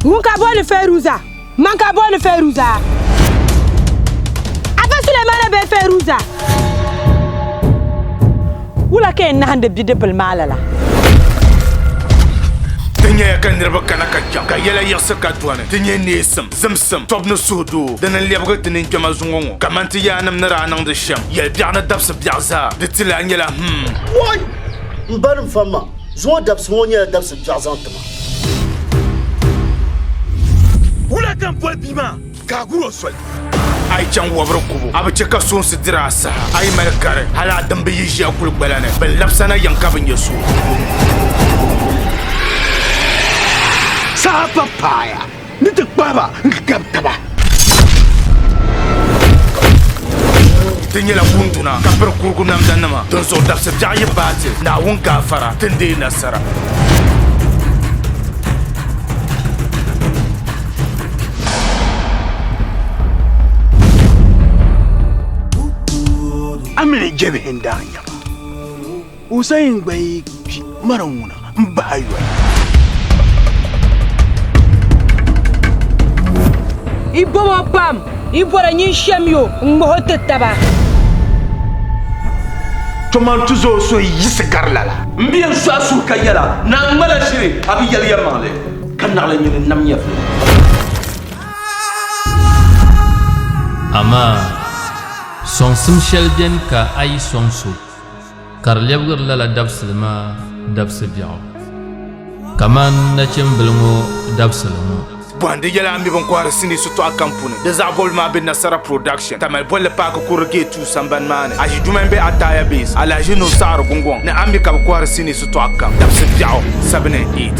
Ŋun ka boli Feruza, man ka boli Feruza. Afa Sulemana be Feruza. Wula ka yɛn nahindi bidibbil maa lala? Ti nyɛya ka niriba kana ka chaŋ ka yɛla yiɣisi ka dɔni ti nyɛ neesim, zimsim, tɔbu ni suhudoo din n lɛbigi ti ninkpɛma zuŋɔ ŋɔ kamani ti yaannim ni daa niŋdi shɛm yɛlibiɛɣu ni dabisibiɛɣu zaa di ti lahi nyɛla him. M ba ni m fam ma, zuŋɔ dabisi ŋɔ nyɛla dabisi biɛɣu zaŋ ti ma. Wula ka n boli bia maa ka a gur o soli? A yi chaŋ wabiri kubu, a bi chɛ ka soonsi diri a saha. A yi mali gari, hal a dimba yi ʒi a kuligbala ni, bɛ labisa na yɛm ka bi nya so. Saha pa paaya. Ni ti kpahi ba n-gabi taba. Ti nyɛla kunduna ka piri kurugu namdanima, dinzuɣu dabsi biɛɣu yi baai ti, Naawuni gaafara, ti ni deei nasara. A mini jɛbihi n-daa nya ba. Hussein gba yi kpi mara ŋuna n bahi a yoli. Yi bomo pam, yi bɔra nyin shem yo n ŋmah o ti taba. Toman ti zo so yi yiɣisi gari lala. M bi yen sɔɣi suhu ka yɛla, Naa n ŋmala shiri a bi yɛli yɛlimaŋli, ka naɣila nyin n nam nyɛvili. Amaa! Sɔŋsim shɛli beni ka a yi sɔŋ so. ka di lɛbigiri lala dabisili maa dabisi biɛɣu, kamani nachimbili ŋɔ dabisili ŋɔ. Bɔhindi yɛla m mi bɛn kɔhiri sinii shitɔɣu kam puuni. Di zaɣ bɔbili maa be Nasara Production, Tamale bolli paaki kurili Gate Two sambani maa ni. Aʒiduma m-be Ataya Base, Alahaji Nuhu Saɣiri Gungɔŋ ni a mi ka bɛ kɔhiri sinii shitɔɣu kam dabisi biɛɣu, sabini and eight.